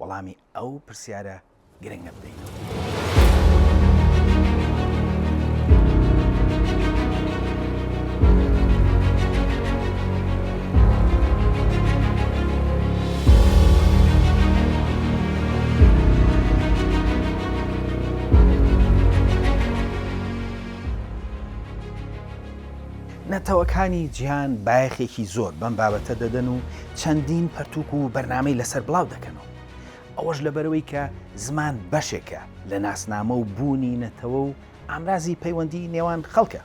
وەڵامی ئەو پرسیارە گرنگە بدەینەوە. نەتەوەکانی جیهان بایەخێکی زۆر بەم بابەتە دەدەن و چەندین پەرتووک و بەرنامەی لەسەر بڵاو دەکەنەوە، ئەوەش لەبەرئەوەی کە زمان بەشێکە لە ناسنامە و بوونی نەتەوە و ئامرازی پەیوەندیی نێوان خەڵکە،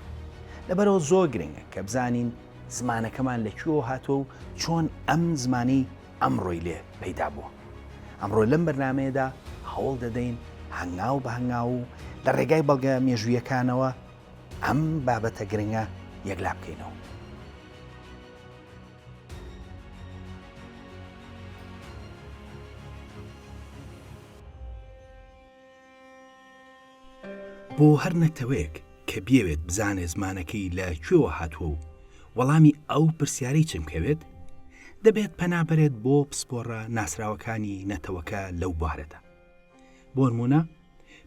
لەبەرئەوە زۆر گرنگە کە بزانین زمانەکەمان لە کوێوە هاتووە و چۆن ئەم زمانەی ئەمڕۆی لێ پەیدا بووە. ئەمڕۆ لەم بەرنامەیەدا هەوڵ دەدەین هەنگاو بە هەنگاو و لە ڕێگای بەڵگە مێژوویەکانەوە ئەم بابەتە گرنگە یەکلا بکەینەوە. بۆ هەر نەتەوەیەک کە بیەوێت بزانێ زمانەکەی لە کوێوە هاتووە و وەڵامی ئەو پرسیارەی چم کەوێت دەبێت پەنابەرێت بۆ پسپۆڕە ناسراوەکانی نەتەوەکە لەو بوارەدا بۆنمونە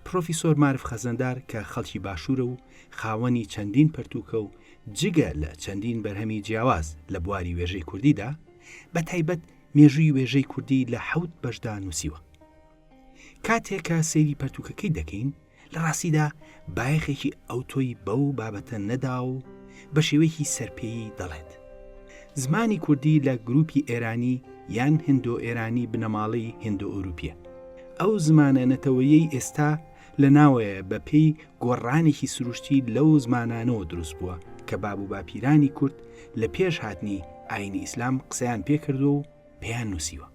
پڕۆفیسۆر مارف خەزنەدار کە خەڵکی باشوورە و خاوەنی چەندین پەرتووکە و جگە لە چەندین بەرهەمی جیاواز لە بواری وێژەی کوردیدا، بە تایبەت مێژووی وێژەی کوردی لە حەوت بەشدا نووسیوە. کاتێ کە سەیری پەرتووکەکەی دەکەین، لە ڕاستیدا بایەخێکی ئەوتۆی بەو بابەتە نەداوە و بە شێوەیەکی سەرپێیی دەڵێت. زمانی کوردی لە گرووپی ئێرانی یان هندۆئێرانی بنەماڵەی هندۆئەوروپییە. ئەو زمانە نەتەوەیەی ئێستا لە ناوەیە بە پێی گۆڕانێکی سروشتی لەو زمانانەوە دروست بووە کە باب و باپیرانی کورد لە پێش هاتنی ئایینی ئیسلام قسەیان پێ کردووە و پێیان نووسیوە.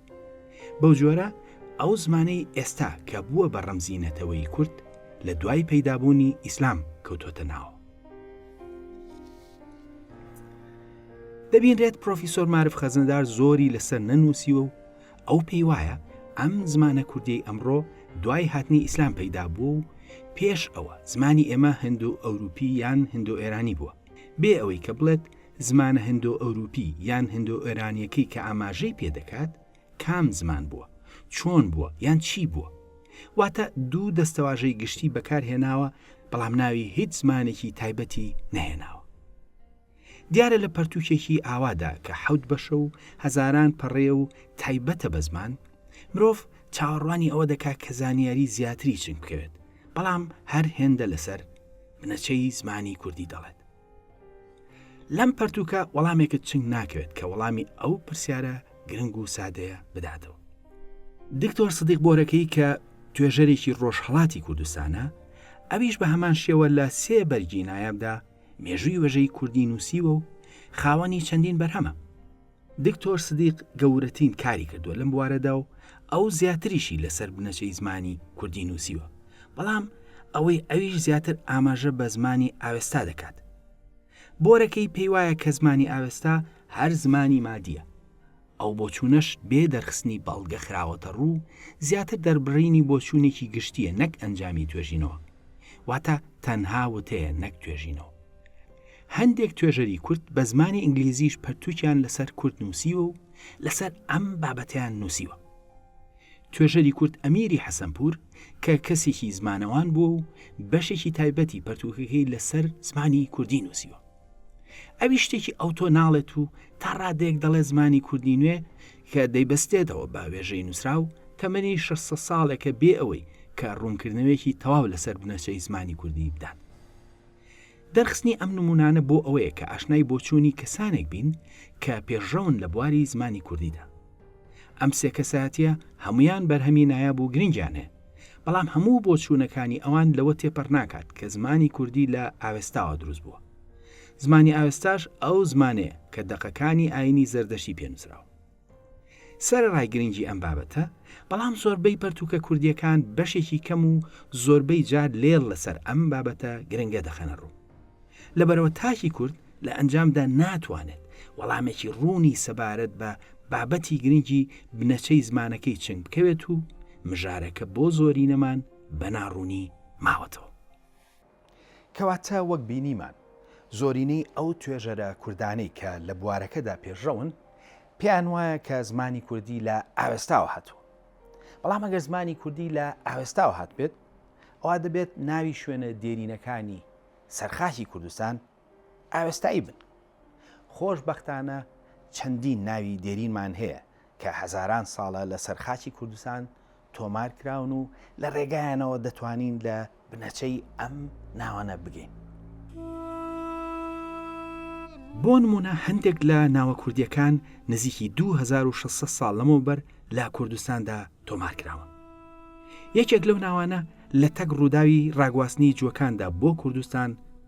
بەو جۆرە ئەو زمانەی ئێستا کە بووە بە ڕەمزی نەتەوەی کورد لە دوای پەیدابوونی ئیسلام کەوتۆتە ناوە. دەبینرێت پرۆفیسۆر مارف خەزندار زۆری لەسەر نەنووسیوە و ئەو پێی وایە ئەم زمانە کوردی ئەمڕۆ دوای هاتنی ئیسلام پەیدا بوو و پێش ئەوە زمانی ئێمە هەندو ئەوروپی یان هەندو ئێرانی بووە بێ ئەوەی کە بڵێت زمانە هەندو ئەوروپی یان هەندو ئێرانیەکەی کە ئاماژەی پێدەکات کام زمان بووە؟ چۆن بووە؟ یان چی بووە؟ واتە دوو دەستەواژەی گشتی بەکار هێناوە، بەڵام ناوی هیچ زمانێکی تایبەتی نەهێناوە. دیارە لە پەرتووکێکی ئاوادا کە حەوت بەشە و هەزاران پەڕەیە و تایبەتە بە زمان، مرۆڤ چاوەڕوانی ئەوە دەکا کە زانیاری زیاتری چنگ بکەوێت، بەڵام هەر هێندە لەسەر بنەچەی زمانی کوردی دەڵێت. لەم پەرتوکە وەڵامێکت چنگ ناکەوێت کە وەڵامی ئەو پرسیارە گرنگ و سادەیە بداتەوە دکتۆر سدیق بۆرەکەی کە توێژەرێکی ڕۆژهڵاتی کوردستانە ئەویش بە هەمان شێوە لە سێ بەرگی نایابدا مێژووی وەژەی کوردی نووسیوە و خاوەنی چەندین بەرهەمە دکتۆر سدیق گەورەتین کاری کردووە لەم بوارەدا و ئەو زیاتریشی لەسەر بنەچەی زمانی کوردی نووسیوە، بەڵام ئەوەی ئەویش زیاتر ئاماژە بە زمانی ئاوێستا دەکات. بۆرەکەی پێیوایە کە زمانی ئاوێستا هەر زمانی مادییە. ئەو بۆچوونەش بێ دەرخستنی بەڵگە خراوەتە ڕوو، زیاتر دەربڕینی بۆچوونێکی گشتییە نەک ئەنجامی توێژینەوە. واتە تەنها وتەیە نەک توێژینەوە. هەندێک توێژەری کورد بە زمانی ئینگلیزیش پەرتووکیان لەسەر کورد نووسیوە و لەسەر ئەم بابەتیان نووسیوە توێژەری کورد ئەمیری حەسەنپور کە کەسێکی زمانەوان بووە و بەشێکی تایبەتی پەرتوکەکەی لەسەر زمانی کوردی نووسیوە ئەوی شتێکی ئەو تۆ ناڵێت و تا ڕادێک دەڵێ زمانی کوردی نوێ کە دەیبەستێتەوە بە وێژەی نووسراو تەمەنی 600 ساڵێکە بێ ئەوەی کە ڕوونکردنەوەیەکی تەواو لەسەر بنەچەی زمانی کوردی بدات دەرخستنی ئەم نموونانە بۆ ئەوەیە کە ئاشنای بۆچوونی کەسانێک بین کە پێشڕەون لە بواری زمانی کوردیدا. ئەم سێ کەسایەتییە هەموویان بەرهەمی نایاب و گرنگیان هەیە، بەڵام هەموو بۆچوونەکانی ئەوان لەوە تێپەڕ ناکات کە زمانی کوردی لە ئاوێستاوە دروست بووە. زمانی ئاوێستاش ئەو زمانەیە کە دەقەکانی ئایینی زەردەشتی پێ نووسراوە. سەرەڕای گرنگی ئەم بابەتە، بەڵام زۆربەی پەرتووکە کوردییەکان بەشێکی کەم و زۆربەی جار لێڵ لەسەر ئەم بابەتە گرنگە دەخەنە ڕوو. لەبەرئەوە تاکی کورد لە ئەنجامدا ناتوانێت وەڵامێکی ڕوونی سەبارەت بە بابەتی گرنگی بنەچەی زمانەکەی چنگ بکەوێت و مژارەکە بۆ زۆرینەمان بە ناڕوونی ماوەتەوە. کەواتە وەک بینیمان زۆرینەی ئەو توێژەرە کوردانەی کە لە بوارەکەدا پێشڕەون پێیان وایە کە زمانی کوردی لە ئاوێستاوە هاتووە بەڵام ئەگەر زمانی کوردی لە ئاوێستاوە هاتبێت ئەوا دەبێت ناوی شوێنە دێرینەکانی سەرخاکی کوردستان ئاوێستایی بن. خۆش بەختانە چەندین ناوی دێرینمان هەیە کە هەزاران ساڵە لە سەر خاکی کوردستان تۆمار کراون و لە ڕێگایانەوە دەتوانین لە بنەچەی ئەم ناوانە بگەین. بۆ نموونە هەندێک لە ناوە کوردییەکان نزیکی دوو هەزار و شەش سەد ساڵ لەمەوبەر لە کوردستاندا تۆمار کراون. یەکێک لەو ناوانە لە تەک ڕووداوی ڕاگواستنی جووەکاندا بۆ کوردستان،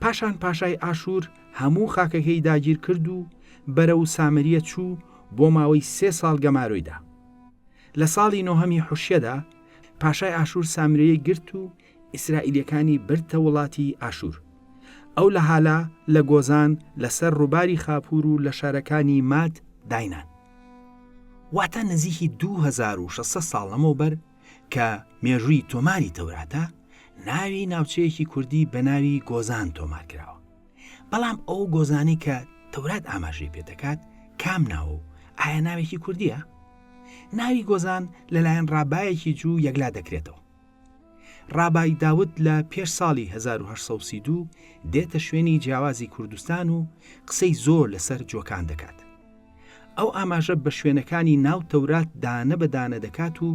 پاشان پاشای ئاشوور هەموو خاکەکەی داگیر کرد و بەرەو سامریە چوو بۆ ماوەی سێ ساڵ گەمارۆی دا. لە ساڵی نۆهەمی حوشیەدا پاشای ئاشوور سامریەی گرت و ئیسرائیلیەکانی بردتە وڵاتی ئاشوور. ئەو لە هالا، لە گۆزان، لە سەر ڕووباری خاپوور و لە شارەکانی ماد داینان. واتە نزیکی دوو هەزار و شەش سەد ساڵ لەمەوبەر، کە مێژووی تۆماری تەوراتە، ناوی ناوچەیەکی کوردی بە ناوی گۆزان تۆمار کراوە. بەڵام ئەو گۆزانەی کە تەورات ئاماژەی پێ دەکات کام ناوە و ئایا ناوێکی کوردییە؟ ناوی گۆزان لەلایەن ڕابایەکی جوو یەکلا دەکرێتەوە. ڕابای داود لە پێش ساڵی هەزار و هەشت سەد و سی و دوو دێتە شوێنی جیاوازی کوردستان و قسەی زۆر لەسەر جۆکان دەکات. ئەو ئاماژە بە شوێنەکانی ناو تەورات دانە بە دانە دەکات و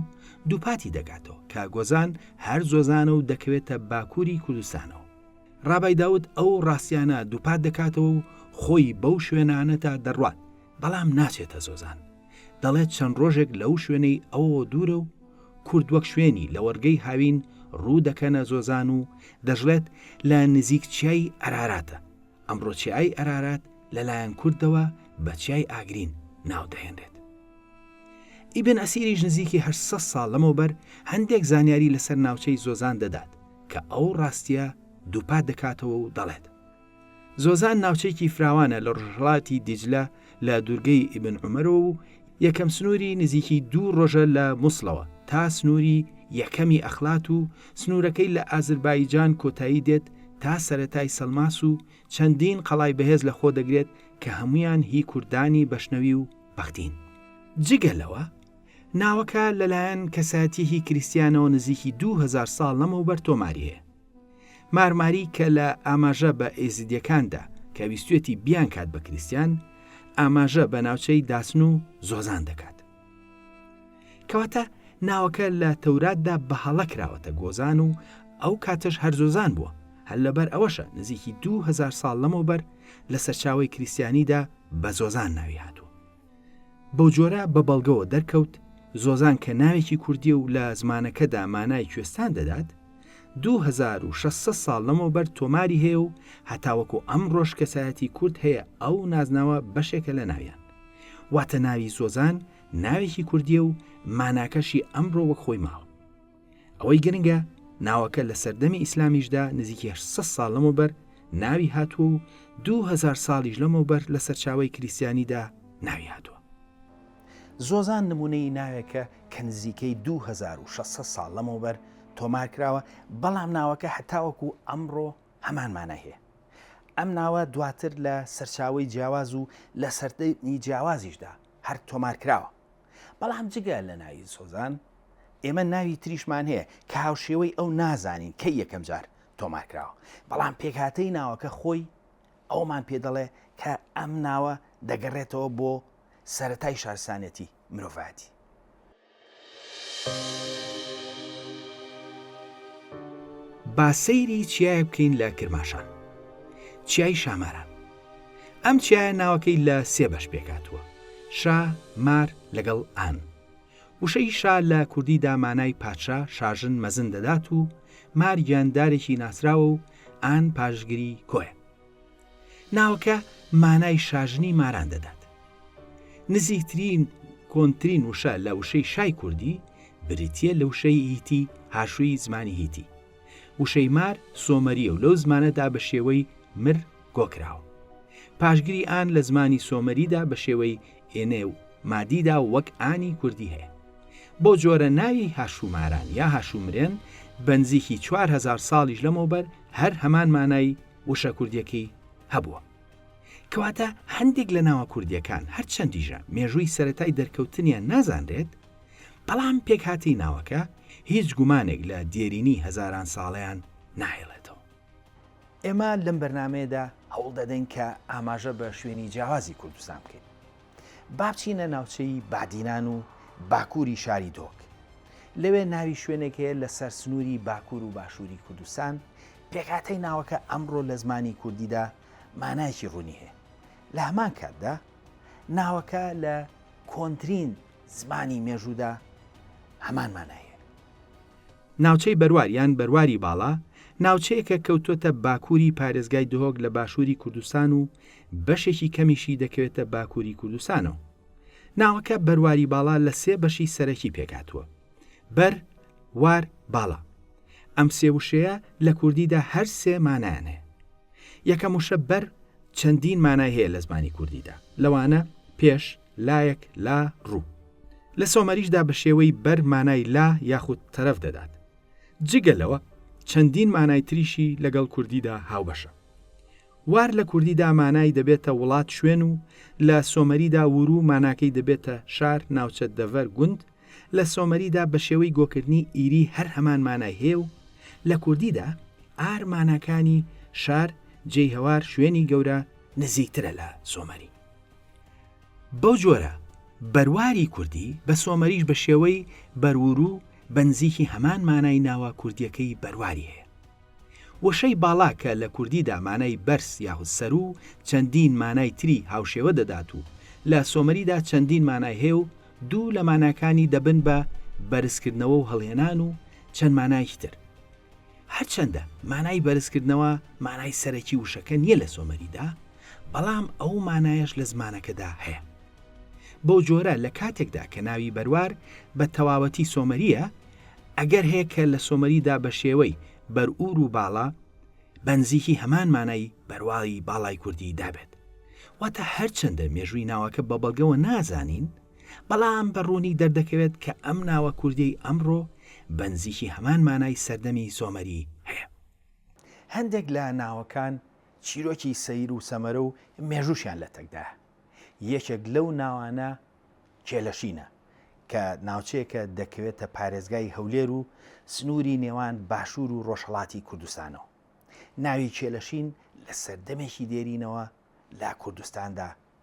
دووپاتی دەکاتەوە کە گۆزان هەر زۆزانە و دەکەوێتە باکووری کوردستانەوە. ڕابای داود ئەو ڕاستیانە دووپات دەکاتەوە و خۆی بەو شوێنانەدا دەڕوات، بەڵام ناچێتە زۆزان. دەڵێت چەند ڕۆژێک لەو شوێنەی ئەوەوە دوورە و کورد وەک شوێنی لەوەڕگەی هاوین ڕوو دەکەنە زۆزان و دەشڵێت لە نزیک چیای ئەراراتە. ئەمڕۆ چیای ئەرارات لەلایەن کوردەوە بە چیای ئاگرین ناو دەهێنرێت. ئیبن ئەسیریش نزیکی 800 ساڵ لەمەوبەر هەندێک زانیاری لەسەر ناوچەی زۆزان دەدات کە ئەو ڕاستییە دووپات دەکاتەوە و دەڵێت، زۆزان ناوچەیەکی فراوانە لە ڕۆژهەڵاتی دیجلە لە دوورگەی ئیبن عومەرەوە و یەکەم سنووری نزیکی دوو ڕۆژە لە موسڵەوە تا سنووری یەکەمی ئەخلات و سنوورەکەی لە ئازربایجان کۆتایی دێت تا سەرەتای سەلماس و چەندین قەڵای بەهێز لە خۆ دەگرێت کە هەموویان هی کوردانی بەشنەوی و بەختین. جگە لەوە، ناوەکە لەلایەن کەسایەتییەکی کریستیانەوە نزیکی دوو هەزار ساڵ لەمەوبەر تۆماری هەیە. مارماری کە لە ئاماژە بە ئێزیدیەکاندا کە ویستوێتی بیان کات بە کریسیان ئاماژە بە ناوچەی داسن و زۆزان دەکات کەواتە ناوەکە لە تەوراتدا بە هەڵە کراوەتە گۆزان و ئەو کاتەش هەرزۆزان بووە هەر لەبەر ئەوەشە نزیکی دوهزار ساڵ لەمەوبەر لە سەرچاوی کریسیانیدا بە زۆزان ناوی هاتووە بەوجۆرە بە بەڵگەوە دەرکەوت زۆزان کە ناوێکی کوردیە و لە زمانەکەدا مانای کوێستان دەدات، دوو هەزار و شەش سەد ساڵ لەمەوبەر تۆماری هەیە و هەتاوەکو ئەمڕۆش کەسایەتی کورد هەیە ئەو نازناوە بەشێکە لە ناویان. واتە ناوی زۆزان ناوێکی کوردیە و ماناکەشی ئەمڕۆ وەک خۆی ماوە. ئەوەی گرنگە ناوەکە لە سەردەمی ئیسلامیشدا نزیک 600 ساڵ لەمەوبەر ناوی هاتووە و 2000 ساڵیش لەمەوبەر لە سەرچاوەی کریستیانیدا ناوی هاتووە. زۆزان نموونەی ناوێکە کە نزیکەی 2600 ساڵ لەمەوبەر تۆمار کراوە، بەڵام ناوەکە هەتاوەکو ئەمڕۆ هەمان مانای هەیە. ئەم ناوە دواتر لە سەرچاوەی جیاواز و لە سەردەمی جیاوازیشدا هەر تۆمار کراوە. بەڵام جگە لە ناوی سۆزان ئێمە ناوی تریشمان هەیە کە هاوشێوەی ئەو نازانین کەی یەکەم جار تۆمار کراوە بەڵام پێکهاتەی ناوەکە خۆی ئەومان پێ دەڵێ کە ئەم ناوە دەگەڕێتەوە بۆ سەتای شارسانەتی مرۆڤاتی با سەیری چیایە بکەین لە کرماشان چیای شاماران ئەم چیایە ناوەکەی لە سێ بەش پێکاتوە شا مار لەگەڵ ئان وشەی شا لە کوردی دامانای پادشا شاژن مەزن دەدات و مار گیاندارێکی ناسراوە و ئان پاشگری کۆیە ناوەکە مانای شاژنی ماران دەدات نزیکترین کۆنترین وشە لە وشەی شای کوردی بریتە لە وشەی هیتی هاشووی زمانی هیتی وشەی مار سۆمەرییە و لەو زمانەدا بە شێوەی، مر، کۆ کراوە. پاشگری ئان لە زمانی سۆمەریدا بە شێوەی، ئێنێ، و، مادیدا وەک، ئانی، کوردی هەیە. بەو جۆرە ناوی هاشووماران یا هاشوومرێن بە نزیکی چوار هەزار ساڵیش لەمەوبەر هەر هەمان مانای وشە کوردییەکەی هەبووە. کەواتە هەندێک لە ناوە کوردییەکان هەرچەندیشە مێژووی سەرەتای دەرکەوتنیان نازانرێت، بەڵام پێکهاتەی ناوەکە هیچ گومانێک لە دێرینی هەزاران ساڵەیان ناهێڵێتەوە. ئێمە لەم بەرنامەیەدا هەوڵ دەدەین کە ئاماژە بە شوێنی جیاوازی کوردستان بکەین. با بچینە ناوچەی بادینان و باکووری شاری دۆک. لەوێ ناوی شوێنێک هەیە لەسەر سنووری باکوور و باشووری کوردستان، پێکهاتەی ناوەکە ئەمڕۆ لە زمانی کوردیدا مانایەکی ڕوونی هەیە. لە هەمان کاتدا ناوەکە لە کۆنترین زمانی مێژوودا هەمان مانای هەیە. ناوچەی بەروار یان بەرواری باڵا، ناوچەیەکە کەوتووەتە باکووری پارێزگای دهۆک لە باشووری کوردستان و بەشێکی کەمیشی دەکەوێتە باکووری کوردستانەوە. ناوەکە بەرواری باڵا لە سێ بەشی سەرەکی پێکهاتووە، بەر، وار، باڵا. ئەم سێ وشەیە لە کوردیدا هەر سێ مانایان هەیە. یەکەم وشە بەر چەندین مانای هەیە لە زمانی کوردیدا، لەوانە، پێش، لایەک، لا، ڕوو. لە سۆمەریشدا بە شێوەی بەر مانای لا یاخود تەرەف دەدات. جگە لەوە چەندین مانای تریشی لەگەڵ کوردیدا هاوبەشە. وار لە کوردیدا مانای دەبێتە وڵات شوێن و لە سۆمەریدا ورو ماناکەی دەبێتە شار ناوچە دەڤەر گوند، لە سۆمەریدا بە شێوەی گۆکردنی ئیری هەر هەمان مانای هەیە و لە کوردیدا ئار ماناکانی شار جێیهەوار شوێنی گەورە نزیکترە لە سۆمەری. بەو جۆرە بەرواری کوردی بە سۆمەریش بە شێوەی بەروورو بە نزیکی هەمان مانای ناوە کوردییەکەی بەرواری هەیە. وشەی باڵا کە لە کوردیدا مانای بەرز یاخود سەروو و چەندین مانای تری هاوشێوە دەدات و لە سۆمەریدا چەندین مانای هەیە و دوو لە ماناکانی دەبن بە بەرزکردنەوە و هەڵهێنان و چەند مانایەکی تر. هەرچەندە مانای بەرزکردنەوە مانای سەرەکی وشەکە نییە لە سۆمەریدا، بەڵام ئەو مانایەش لە زمانەکەدا هەیە. بەو جۆرە لە کاتێکدا کە ناوی بەروار بە تەواوەتی سۆمەرییە، ئەگەر هەیە کە لە سۆمەریدا بە شێوەی، بەرور و باڵا، بە نزیکی هەمان مانای، بەرواڵی باڵای کوردی، دا بێت. واتە هەرچەندە مێژووی ناوەکە بە بەڵگەوە نازانین، بەڵام بە ڕوونی دەردەکەوێت کە ئەم ناوە کوردیەی ئەمڕۆ بەنزیکی هەمان مانای سەردەمی سۆمەری هەیە. هەندێک لە ناوەکان چیرۆکی سەیر و سەمەرە و مێژووشیان لەتەکدایە. یەکێک لەو ناوانە کێلەشینە، کە ناوچەیەکە دەکەوێتە پارێزگای هەولێر و سنووری نێوان باشوور و ڕۆژهەڵاتی کوردستانەوە. ناوی کێلەشین لە سەردەمێکی دێرینەوە لە کوردستاندا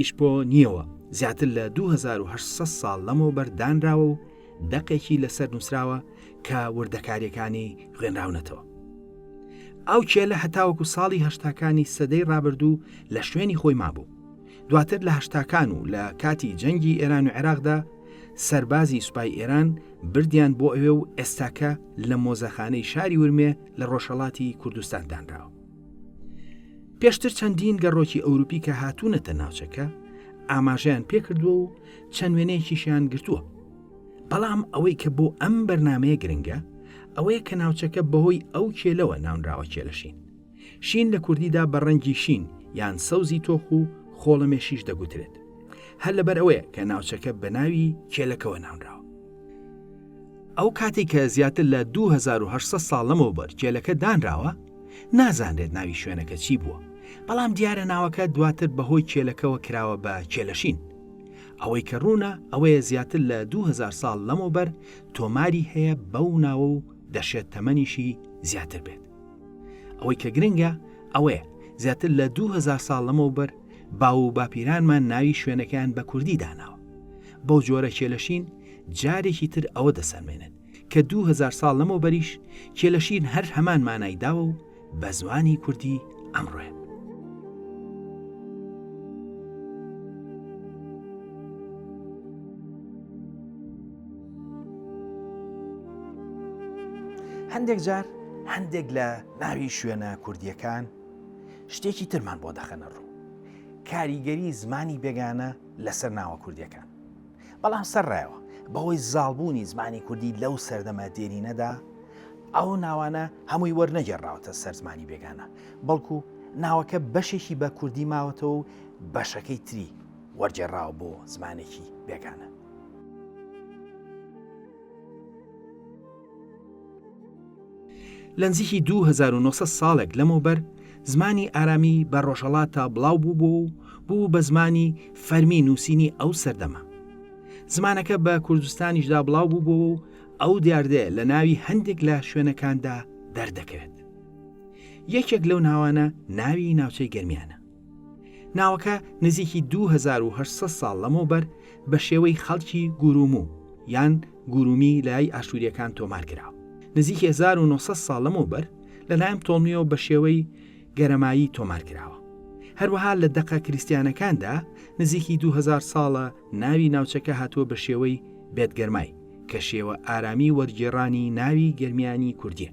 یش بۆ نییەوە، زیاتر لە دوو هەزار و هەشت سەد ساڵ لەمەوبەر دانراوە و دەقێکی لەسەر نووسراوە کە وردەکارییەکانی خوێنراونەتەوە. ئەو کێلە هەتاوەکو ساڵی هەشتاکانی سەدەی ڕابردوو لە شوێنی خۆی مابوو. دواتر لە هەشتاکان و لە کاتی جەنگی ئێران و عێراقدا سەربازی سوپای ئێران بردیان بۆ ئەوێ و ئێستاکە لە مۆزەخانەی شاری ورمێ لە ڕۆژهەڵاتی کوردستان دانراوە. پێشتر چەندین گەڕۆکی ئەوروپی کە هاتوونەتە ناوچەکە ئاماژەیان پێکردووە و چەند وێنەیەکیشیان گرتووە بەڵام ئەوەی کە بۆ ئەم بەرنمەیە گرنگە ئەوەیە کە ناوچەکە بەهۆی ئەو کێلەوە ناونراوە کێلەشین شین لە کوردیدا بە ڕەنگی شین یان سەوزی تۆخ و خۆڵەمێشیش دەگوترێت هەر لەبەر ئەوەیە کە ناوچەکە بە ناوی کێلەکەوە ناونراوە ئەو کاتەی کە زیاتر لە دوو هەزار و هەشت سەد ساڵ لەمەوبەر کێلەکە دانراوە، نازانرێت ناوی شوێنەکە چی بووە، بەڵام دیارە ناوەکە دواتر بەهۆی کێلەکەوە کراوە بە کێلەشین. ئەوەی کە ڕوونە ئەوەیە زیاتر لە دوو هەزار ساڵ لەمەوبەر تۆماری هەیە بەو ناوە و دەشێت تەمەنیشی زیاتر بێت. ئەوەی کە گرنگە ئەوەیە زیاتر لە دوو هەزار ساڵ لەمەوبەر باو و باپیرانمان ناوی شوێنەکەیان بە کوردی داناوە. بەو جۆرە کێلەشین جارێکی تر ئەوە دەسەلمێنن کە دوو هەزار ساڵ لەمەوبەریش کێلەشیر هەر هەمان مانای داوە و بە زمانی کوردی ئەمڕۆیە. هەندێک جار هەندێک لە ناوی شوێنە کوردیەکان شتێکی ترمان بۆ دەخەنە ڕوو کاریگەری زمانی بێگانە لەسەر ناوە کوردیەکان بەڵام سەرڕایەوە بەهۆی زاڵبوونی زمانی کوردی لەو سەردەمە دێرینەدا ئەو ناوانە هەمووی وەرنەگێڕراوەتە سەر زمانی بێگانە، بەڵکو ناوەکە بەشێکی بە کوردی ماوەتەوە و بەشەکەی تری وەرگێڕراوە بۆ زمانێکی بێگانە. لە نزیکی دوو هەزار و نۆ سەد ساڵێک لەمەوبەر زمانی ئارامی بە ڕۆژهەڵاتا بڵاو بووبوو و بوو بە زمانی فەرمی نووسینی ئەو سەردەمە زمانەکە بە کوردستانیشدا بڵاو بووبوو و ئەو دیاردەیە لە ناوی هەندێک لە شوێنەکاندا دەردەکەوێت یەکێک لەو ناوانە ناوی ناوچەی گەرمیانە ناوەکە نزیکی دوو هەزار و هەشت سەد ساڵ لەمەوبەر بە شێوەی خەڵکی گورومو یان گورومی لای ئاشوورییەکان تۆمار کرا. نزیکی هەزار و نۆ سەد ساڵ لەمەوبەر لەلایەن پتۆڵمیەوە بە شێوەی گەرەمایی تۆمار کراوە. هەروەها لە دەقە کریستیانەکاندا نزیکی دوو هەزار ساڵە ناوی ناوچەکە هاتووە بە شێوەی بێتگەرمای، کە شێوە ئارامی وەرگێڕانی ناوی گەرمیانی کوردییە.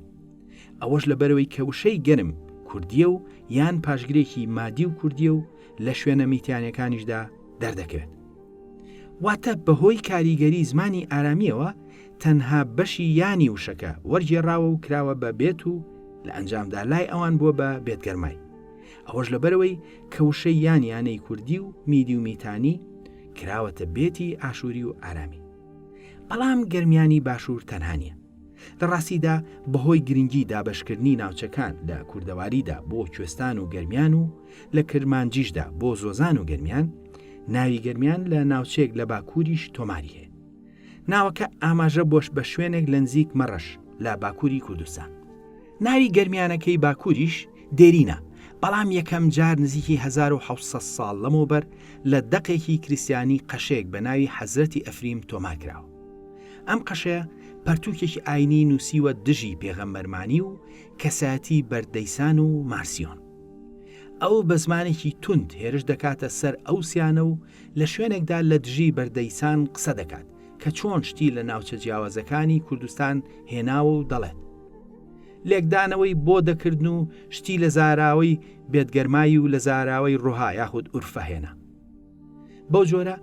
ئەوەش لەبەرەوەی کە وشەی گەرم کوردییە و یان پاشگرێکی مادی و کوردییە و لە شوێنە میتیانەکانیشدا دەردەکەوێت. واتە بەهۆی کاریگەری زمانی ئارامیەوە تەنها بەشی یانی وشەکە وەرگێڕاوە و کراوە بە بێت و لە ئەنجامدا لای ئەوان بووە بە بێتگەرمای. ئەوەش لەبەرەوەی کە وشەی یانیانەی کوردی و میدی و میتانی کراوەتە بێتی ئاشووری و ئارامی. بەڵام گەرمیانی باشوور تەنها نیە. لە ڕاستیدا بەهۆی گرنگی دابەشکردنی ناوچەکان لە کوردەواریدا بۆ کوێستان و گەرمیان و لە کرمانجیشدا بۆ زۆزان و گەرمیان ناوی گەرمیان لە ناوچەیەک لە باکووریش تۆماری هەیە ناوەکە ئاماژە بۆش بە شوێنێک لە نزیک مەڕەش لە باکووری کوردستان ناوی گەرمیانەکەی باکووریش دێرینە بەڵام یەکەم جار نزیکی 1970 ساڵ لەمەوبەر لە دەقێکی کریسیانی قەشەیەک بە ناوی حەزرەتی ئەفریم تۆمار کراوە ئەم قەشەیە پەرتوکێکی ئاینی نووسیوە دژی پێغەمبەرمانی و کەسایەتی بەردەیسان و مارسیۆن ئەو بە زمانێکی توند هێرش دەکاتە سەر ئەو سیانە و لە شوێنێکدا لە دژی بەردەیسان قسە دەکات کە چۆن شتی لە ناوچە جیاوازەکانی کوردستان هێناوە و دەڵێت لێکدانەوەی بۆ دەکردن و شتی لە زاراوەی بێتگەرمایی و لە زاراوەی ڕۆها یاخود ئورفەهێنا بەو جۆرە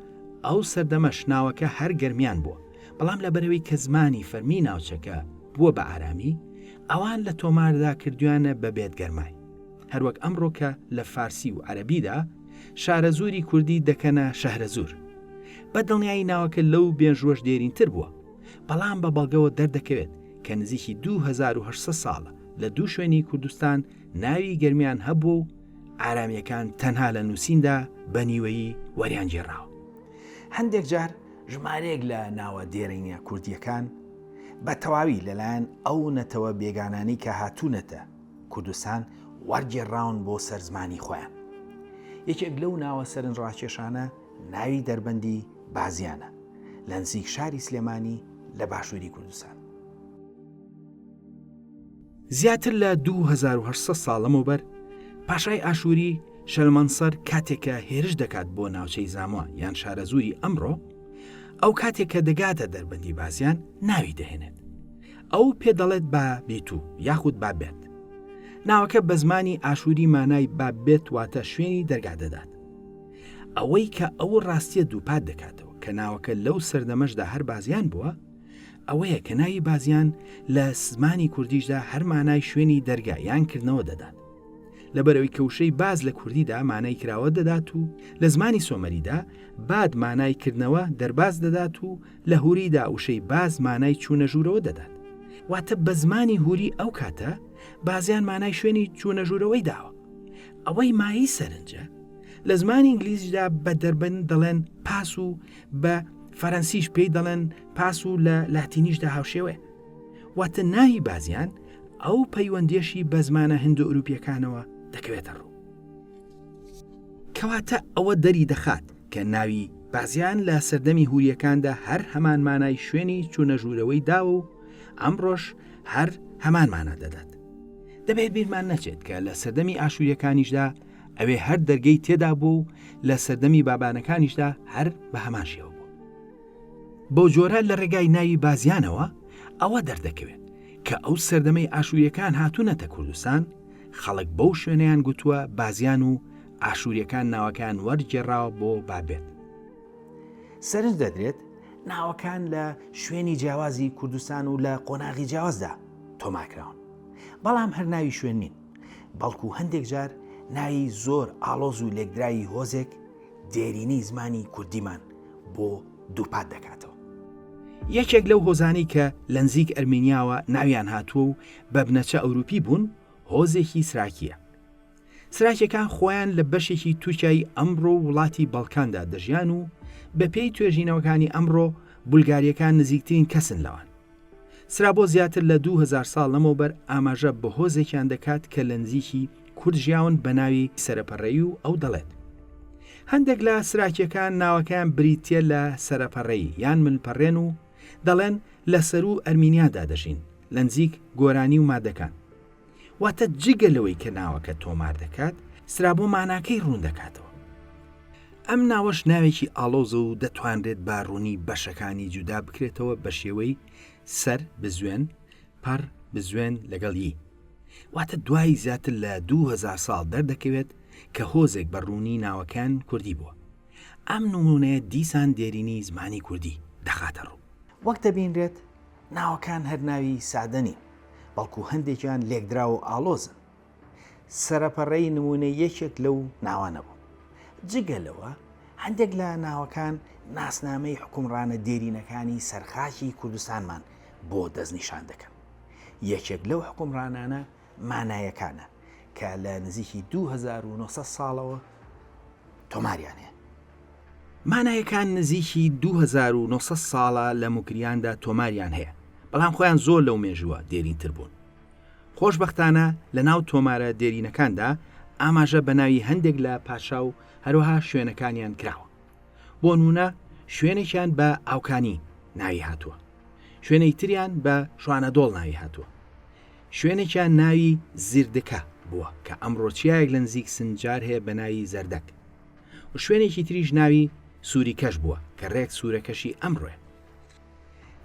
ئەو سەردەمەش ناوەکە هەر گەرمیان بووە، بەڵام لەبەرئەوەی کە زمانی فەرمیی ناوچەکە بووە بە ئارامی، ئەوان لە تۆماردا کردوویانە بە بێتگەرمای. هەروەک ئەمڕۆ کە لە فارسی و عەرەبیدا شارەزووری کوردی دەکەنە شەهرەزوور. بە دڵنیایی ناوەکە لەو مێژووەش دێرینتر بووە، بەڵام بە بەڵگەوە دەردەکەوێت کە نزیکی دوو هەزار و هەشت سەد ساڵە لە دوو شوێنی کوردستان ناوی گەرمیان هەبووە و ئارامییەکان تەنها لە نووسیندا بە نیوەیی وەریان گێڕاوە هەندێک جار ژمارەیەک لە ناوە دێرینە کوردیەکان بە تەواوی لەلایەن ئەو نەتەوە بێگانانی کە هاتوونەتە کوردستان وەرگێڕاون بۆ سەر زمانی خۆیان یەکێک لەو ناوە سەرن ڕاکێشانە ناوی دەربەندی بازیانە لە نزیک شاری سلێمانی لە باشووری کوردستان زیاتر لە 2800 ساڵ لەمەوبەر پاشای ئاشووری شەلمەنسەر کاتێکە هێرش دەکات بۆ ناوچەی زاموە یان شارەزووری ئەمڕۆ ئەو کاتێک کە دەگاتە دەربەندی بازیان ناوی دەهێنێت ئەو پێ دەڵێت با بیت و یاخود با بێت ناوەکە بە زمانی ئاشووری مانای با بێت واتە شوێنی دەرگا دەدات ئەوەی کە ئەو ڕاستیە دووپات دەکاتەوە کە ناوەکە لەو سەردەمەشدا هەر بازیان بووە ئەوەیە کە ناوی بازیان لە زمانی کوردیشدا هەر مانای شوێنی دەرگا یان کردنەوە دەدات لەبەرەوەی کەوشەی باز لە کوردیدا مانای کراوە دەدات و لە زمانی سۆمەریدا باد مانای کردنەوە دەرباز دەدات و لە هوریدا وشەی باز مانای چوونە ژوورەوە دەدات واتە بە زمانی هوری ئەو کاتە بازیان مانای شوێنی چوونە ژوورەوەی داوە ئەوەی مایی سەرنجە لە زمانی ئینگلیزیدا بە دەربن دەڵێن پاس و بە فەرەنسیش پێی دەڵێن پاس و لە لاتینیشدا هاوشێوەیە واتە ناوی بازیان ئەو پەیوەندێشی بە زمانە هندو ئەوروپیەکانەوە دەکەوێتە ڕوو کەواتە ئەوە دەری دەخات کە ناوی بازیان لە سەردەمی هوریەکاندا هەر هەمان مانای شوێنی چوونە ژوورەوەی داوە و ئەمڕۆژ هەر هەمان مانە دەدات دەبێت بیرمان نەچێت کە لە سەردەمی ئاشووریەکانیشدا ئەوێ هەر دەرگەی تێدا بوو و لە سەردەمی بابانەکانیشدا هەر بە هەمان شێوە بوو بەو جۆرە لە ڕێگای ناوی بازیانەوە ئەوە دەردەکەوێت کە ئەو سەردەمەی ئاشووریەکان هاتوونەتە کوردستان خەڵک بەو شوێنیان گوتووە بازیان و ئاشووریەکان ناوەکان وەرگێڕاوە بۆ بابێت سەرنج دەدرێت ناوەکان لە شوێنی جیاوازی کوردستان و لە قۆناغی جیاوازدا تۆماکراون بەڵام هەر ناوی شوێن نین بەڵکو هەندێک جار ناوی زۆر ئاڵۆز و لێکدراوی هۆزێک دێرینەی زمانی کوردیمان بۆ دووپات دەکاتەوە. یەکێک لەو هۆزانەی کە لە نزیک ئەرمینیاوە ناویان هاتووە و بە بنەچە ئەوروپی بوون، هۆزێکی سراکییە. سراکیەکان خۆیان لە بەشێکی تورکیای ئەمڕۆ و وڵاتی بەڵکاندا دەژیان و بەپێی توێژینەوەکانی ئەمڕۆ بولگاریەکان نزیکترین کەسن لەوان. سرا بۆ زیاتر لە دوو هەزار ساڵ لەمەوبەر ئاماژە بە هۆزێکیان دەکات کە لە نزیکی کورد ژیاون بە ناوی سەرەپەڕەیی و ئەو دەڵێت هەندێک لە سراکیەکان ناوەکەیان بریتیە لە سەرەپەڕەیی یان ملپەڕێن و دەڵێن لە سەروو ئەرمینیادا دەژین لە نزیک گۆرانی و مادەکان. واتە جگە لەوەی کە ناوەکە تۆمار دەکات، سترابۆ ماناکەی ڕوون دەکاتەوە. ئەم ناوەش ناوێکی ئاڵۆزە و دەتوانرێت بە ڕوونی بەشەکانی جودا بکرێتەوە بە شێوەی، سەر، بزوێن، پەڕ، بزوێن، لەگەڵ، ی. واتە دوای زیاتر لە دوو هەزار ساڵ دەردەکەوێت کە هۆزێک بە ڕوونی ناوەکەیان کوردی بووە. ئەم نموونەیە دیسان دێرینی زمانی کوردی دەخاتە ڕوو. وەک دەبینرێت ناوەکان هەر ناوی سادە نین. بەڵکو هەندێکیان لێکدراو و ئاڵۆزن. سەرەپەڕەی نموونەی یەکێک لەو ناوانە بوو. جگە لەوە، هەندێک لە ناوەکان ناسنامەی حوکمڕانە دێرینەکانی سەر خاکی کوردستانمان بۆ دەستنیشان دەکەن. یەکێک لەو حوکمڕانانە مانایەکانە کە لە نزیکی دوو هەزار و نۆ سەد ساڵەوە تۆماریان هەیە. مانایەکان نزیکی دوو هەزار و نۆ سەد ساڵە لە موکریاندا تۆماریان هەیە، بەڵام خۆیان زۆر لەو مێژووە دێرینتر بوون. خۆشبەختانە لەناو تۆمارە دێرینەکاندا ئاماژە بە ناوی هەندێک لە پادشا و هەروەها شوێنەکانیان کراوە. بۆنموونە شوێنێکیان بە ئاوکانی ناوی هاتووە. شوێنێی تریان بە شوانەدۆڵ ناوی هاتووە. شوێنێکیان ناوی زیردکە بووە کە ئەمڕۆ چیایەک لە نزیک سنجار هەیە بە ناوی زەردەک. و شوێنێکی تریش ناوی سوری کەش بووە کە رێک سورە کەشی ئەمڕۆیە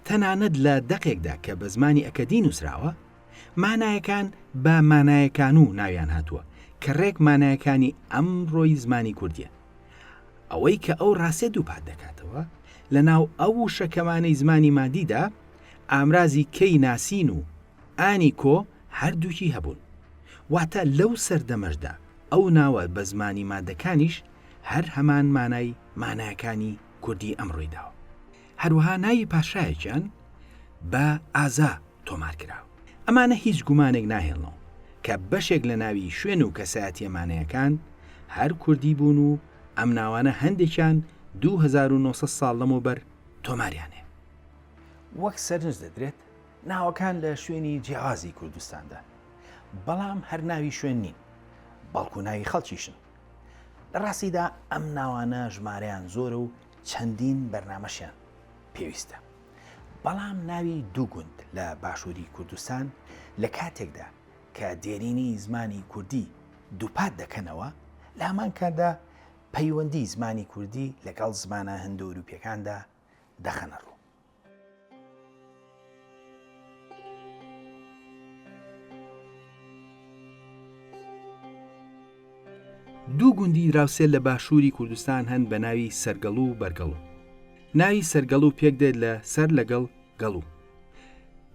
تەنانەت لە دەقێکدا کە بە زمانی ئەکەدی نووسراوە مانایەکان بە مانایەکان و ناویان هاتووە کە رێک مانایەکانی ئەم رۆی زمانی کوردیە ئەوەی کە ئەو راستێ دووپات دەکاتەوە لە ناو ئەو وشەکەمانەی زمانی مادیدا ئامرازی کەی ناسین و انی کۆ هەردووکی هەبوون. واتە لەو سەردەمەشدا ئەو ناوە بە زمانی مادەکانیش هەر هەمان مانای ماناکانی کوردی ئەمڕۆی داوە. هەروەها ناوی پاشایەکیان بە، ئازا، تۆمار کرا. ئەمانە هیچ گومانێک ناهێڵنەوە کە بەشێک لە ناوی شوێن و کەسایەتییە مانەیەکان هەر کوردی بوون و ئەم ناوانە هەندێکیان دوو هەزار و نۆ سەد ساڵ لەمەوبەر تۆماریان هەیە. وەک سەرنج دەدرێت ناوەکان لە شوێنی جیاوازی کوردستاندان، بەڵام هەر ناوی شوێن نین، بەڵکو ناوی خەڵکیشن. لە ڕاستیدا ئەم ناوانە ژمارەیان زۆرە و چەندین بەرنامەشیان پێویستە. بەڵام ناوی دوو گوند لە باشووری کوردستان لە کاتێکدا کە دێرینی زمانی کوردی دووپات دەکەنەوە، لە هەمان کاتدا پەیوەندی زمانی کوردی لەگەڵ زمانە هندۆروپییەکاندا دەخەنە ڕوو. دوو گوندی دراوسێ لە باشووری کوردستان هەن بە ناوی سەرگەڵ و بەرگەڵ و ناوی سەرگەڵ و پێک دێت لە سەر لەگەڵ گەڵ و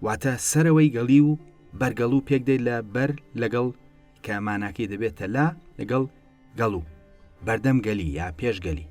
واتە سەرەوەی گەڵی و بەرگەڵ و پێک دێت لە بەر لەگەڵ کە ماناکەی دەبێتە لا لەگەڵ گەڵ و بەردەم گەلی یا پێشگەلی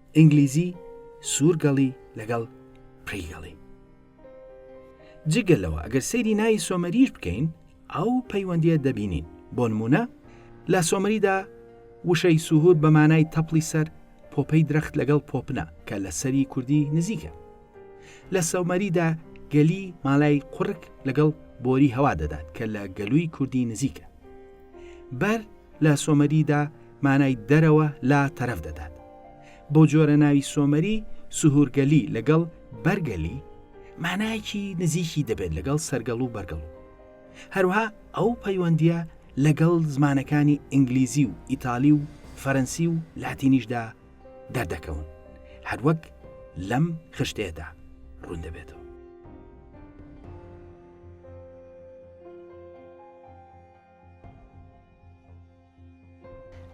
ئینگلیزی، سوورگەڵی لەگەڵ پریگەڵی. جگە لەوە ئەگەر سەیری ناوی سۆمەریش بکەین ئەو پەیوەندیە دەبینین بۆ نمونە لە سۆمەریدا وشەی سوهور بە مانای تەپڵی سەر پۆپەی درەخت لەگەڵ پۆپنە کە لە سەری کوردی نزیکە لە سەومەریدا گەلی مالای قڕک لەگەڵ بۆری هەوا دەدات کە لە گەلووی کوردی نزیکە بەر لە سۆمەریدا مانای دەرەوە لا تەرەف دەدات. بۆ جۆرە ناوی سۆمەری سهورگەلی لەگەڵ بەرگەلی مانایەکی نزیکی دەبێت لەگەڵ سەرگەڵ و بەرگەڵ و هەروەها ئەو پەیوەندیە لەگەڵ زمانەکانی ئینگلیزی و ئیتالی و فەرەنسی و لاتینیشدا دەردەکەون هەروەک لەم خشتەیەدا ڕوون دەبێتەوە.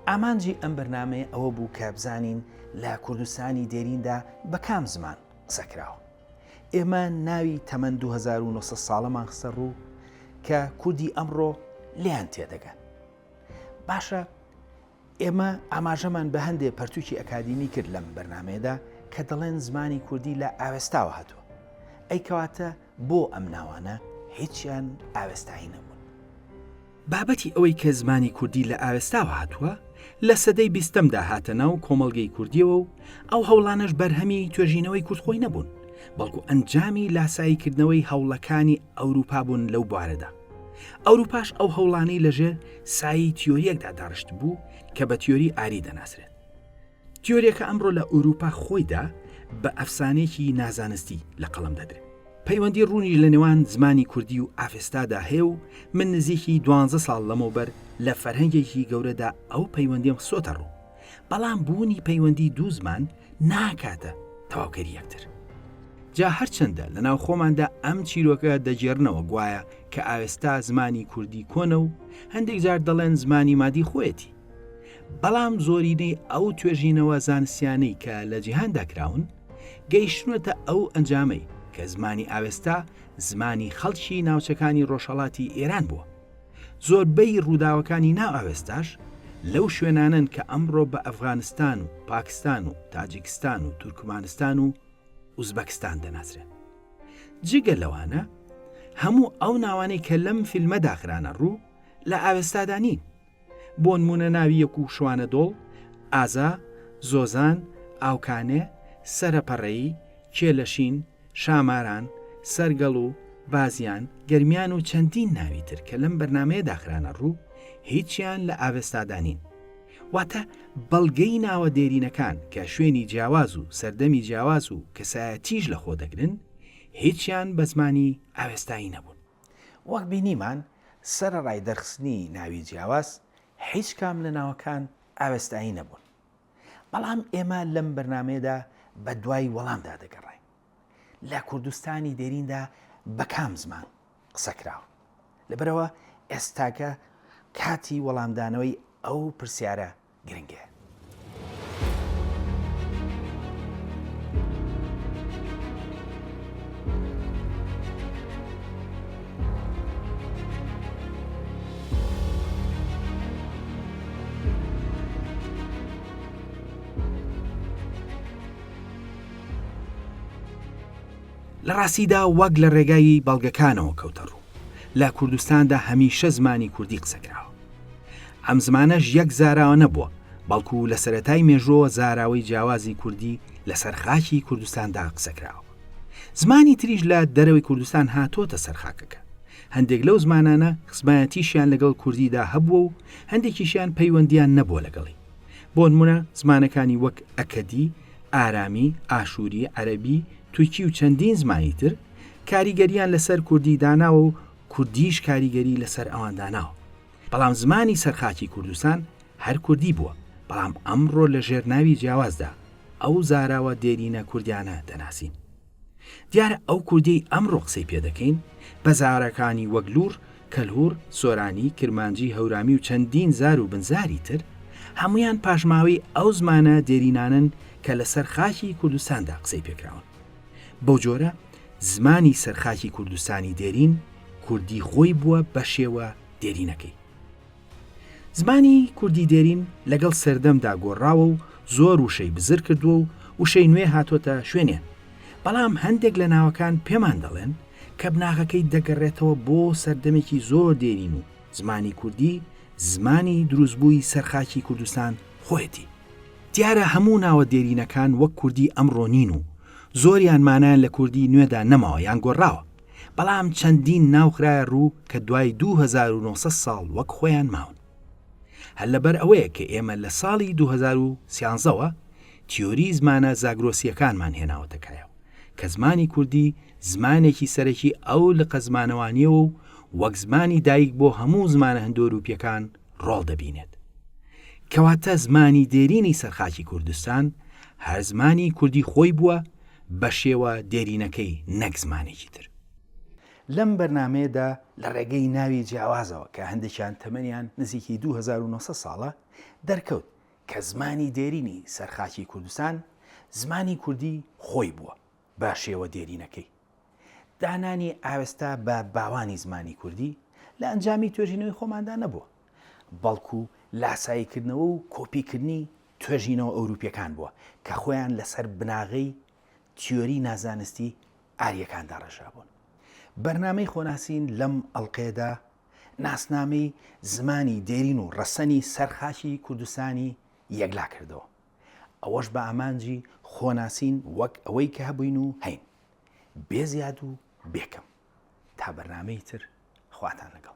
ئامانجی ئەم بەرنامەیە ئەوە بوو کە بزانین لە کوردستانی دێریندا بە کام زمان قسە کراوە. ئێمە ناوی تەمەن 2900 ساڵەمان خستە ڕوو کە کوردی ئەمڕۆ لێیان تێدەگەن. باشە ئێمە ئاماژەمان بە هەندێ پەرتوکی ئەکادیمی کرد لەم بەرنمەیەدا کە دەڵێن زمانی کوردی لە ئاوێستاوە هاتووە ئەی کەواتە بۆ ئەم ناوانە هیچیان ئاوێستایی نەبوون. بابەتی ئەوەی کە زمانی کوردی لە ئاوێستاوە هاتووە، لە سەدەی بیستەمدا هاتە ناو کۆمەڵگەی کوردییەوە و ئەو هەوڵانەش بەرهەمی توێژینەوەی کورد خۆی نەبوون، بەڵکو ئەنجامی لاساییکردنەوەی هەوڵەکانی ئەوروپا بوون لەو بوارەدا. ئەوروپاش ئەو هەوڵانەی لەژێر سایەی تیۆرییەکدا داڕشتبوو کە بە تیۆری ئاری دەناسرێت. تیۆریەکە ئەمڕۆ لە ئورووپا خۆیدا بە ئەفسانەیەکی نازانستی لە قەڵەم دەدرێت. پەیوەندی ڕوونی لە نێوان زمانی کوردی و ئاڤستادا هەیە و من نزیکی دوانزە ساڵ لەمەوبەر لە فەرهەنگێکی گەورەدا ئەو پەیوەندیم خسۆتە ڕوو، بەڵام بوونی پەیوەندی دوو زمان ناکاتە تەواوکەری یەکتر. جا هەرچەندە لە ناوخۆماندا ئەم چیرۆکە دەگێڕنەوە گوایە کە ئاوێستا زمانی کوردی کۆنە و هەندێک جار دەڵێن زمانی مادی خۆیەتی، بەڵام زۆرینەی ئەو توێژینەوە زانستیانەی کە لە جیهاندا کراون گەیشتونەتە ئەو ئەنجامەی کە زمانی ئاوێستا زمانی خەڵکی ناوچەکانی ڕۆژهەڵاتی ئێران بووە. زۆربەی ڕووداوەکانی ناو ئاوێستاش لەو شوێنانەن کە ئەمڕۆ بە ئەفغانستان و پاکستان و تاجیکستان و تورکمانستان و ئوزبەکستان دەناسرێن. جگە لەوانە هەموو ئەو ناوانەی کە لەم فیلمە داخرانە ڕوو لە ئاوێستادا نین. بۆنموونە ناوی یەک و شوانە دۆڵ، ئازا، زۆزان، ئاوکانێ، سەرە پەڕەیی، کێلە شین، شاماران، سەرگەڵ و بازیان، گەرمیان و چەندین ناوی تر کە لەم بەرنامەیەدا خرانە ڕوو هیچیان لە ئاڤێستادا نین. واتە بەڵگەی ناوە دێرینەکان کە شوێنی جیاواز و سەردەمی جیاواز و کەسایەتیش لەخۆ دەگرن هیچیان بە زمانی ئاوێستایی نەبوون. وەک بینیمان سەرەڕای دەرخستنی ناوی جیاواز هیچ کام لە ناوەکان ئاوێستایی نەبوون بەڵام ئێمە لەم بەرنمەیەدا بە دوای وەڵامدا دەگەڕین لە کوردستانی دێریندا بە کام زمان قسەکراوە لەبەرەوە ئێستاکە کاتی وەڵامدانەوەی ئەو پرسیارە گرنگەیە. لە ڕاستیدا وەک لە ڕێگای بەڵگەکانەوە کەوتە ڕوو، لە کوردستاندا هەمیشە زمانی کوردی قسە کراوە. ئەم زمانەش یەک زاراوە نەبووە، بەڵکو لە سەرەتای مێژووەوە زاراوەی جیاوازی کوردی لەسەر خاکی کوردستاندا قسەکراوە. زمانی تریش لە دەرەوەی کوردستان هاتۆتە سەر خاکەکە. هەندێک لەو زمانانە خزمایەتیشیان لەگەڵ کوردیدا هەبووە و هەندێکیشیان پەیوەندیان نەبووە لەگەڵی. بۆنمونە زمانەکانی وەک ئەکەدی، ئارامی، ئاشوری، عەرەبی، تورکی و چەندین زمانی تر کاریگەریان لەسەر کوردی داناوە و کوردیش کاریگەری لەسەر ئەوان داناوە بەڵام زمانی سەرخاکی کوردستان هەر کوردی بووە بەڵام ئەمڕۆ لە ژێر ناوی جیاوازدا ئەو زاراوە دێرینە کوردیانە دەناسین دیارە ئەو کوردی ئەمڕۆ قسەی پێ دەکەین بە زارەکانی وەک لور کەلهور سۆرانی کرمانجی هەورامی و چەندین زار و بنزاری تر هەمویان پاشماوەی ئەو زمانە دێرینانن کە لەسەر خاکی کوردستاندا قسەی پێکراون بەو جۆرە زمانی سەر خاکی کوردستانی دێرین کوردی خۆی بووە بەشێوە دێرینەکەی. زمانی کوردی دێرین لەگەڵ سەردەمدا گۆڕاوە و زۆر وشەی بزر کردووە و وشەی نوێ هاتۆتە شوێنێن، بەڵام هەندێک لە ناوەکان پێمان دەڵێن کە بناغەکەی دەگەڕێتەوە بۆ سەردەمێکی زۆر دێرین و زمانی کوردی زمانی دروستبووی سەر خاکی کوردستان خۆیەتی. دیارە هەموو ناوە دێرینەکان وەک کوردی ئەمڕۆ نین و زۆریان مانایان لە کوردی نوێدا نەماوە یان گۆڕاوە، بەڵام چەندین ناو خرایە ڕوو کە دوای دوو هەزار و نۆ سەد ساڵ وەک خۆیان ماون. هەر لەبەر ئەوەیە کە ئێمە لە ساڵی دوو هەزار و سیانزە وە تیۆری زمانە زاگرۆسییەکانمان هێناوەتە کایەوە کە زمانی کوردی زمانێکی سەرەکی ئەو لقە زمانەوانییەوە و وەک زمانی دایک بۆ هەموو زمانە هندۆرووپییەکان ڕۆڵ دەبینێت. کەواتە زمانی دێرینی سەر خاکی کوردستان هەر زمانی کوردی خۆی بووە بە شێوە دێرینەکەی نەک زمانێکی تر. لەم بەرنامەیەدا لە ڕێگەی ناوی جیاوازەوە کە هەندێکیان تەمەنیان نزیکی دوو هەزار و نۆ سەد ساڵە، دەرکەوت کە زمانی دێرینی سەر خاکی کوردستان زمانی کوردی خۆی بووە. بە شێوە دێرینەکەی دانانی ئاوێستا بە باوانی زمانی کوردی لە ئەنجامی توێژینەوەی خۆماندا نەبووە، بەڵکو لاساییکردنەوە و کۆپیکردنی توێژینەوە ئەوروپییەکان بووە کە خۆیان لەسەر بناغەی تیۆری نازانستی ئارییەکان داڕێژرابوون. بەرنامەی خۆناسین لەم ئەڵقەیەدا ناسنامەی زمانی دێرین و ڕەسەنی سەر خاکی کوردستانی یەکلاکردەوە. ئەوەش بە ئامانجی خۆناسین وەک ئەوەی کە هەبووین و هەین بێ زیاد و بێکەم تا بەرنمەی تر خواتان لەگەڵ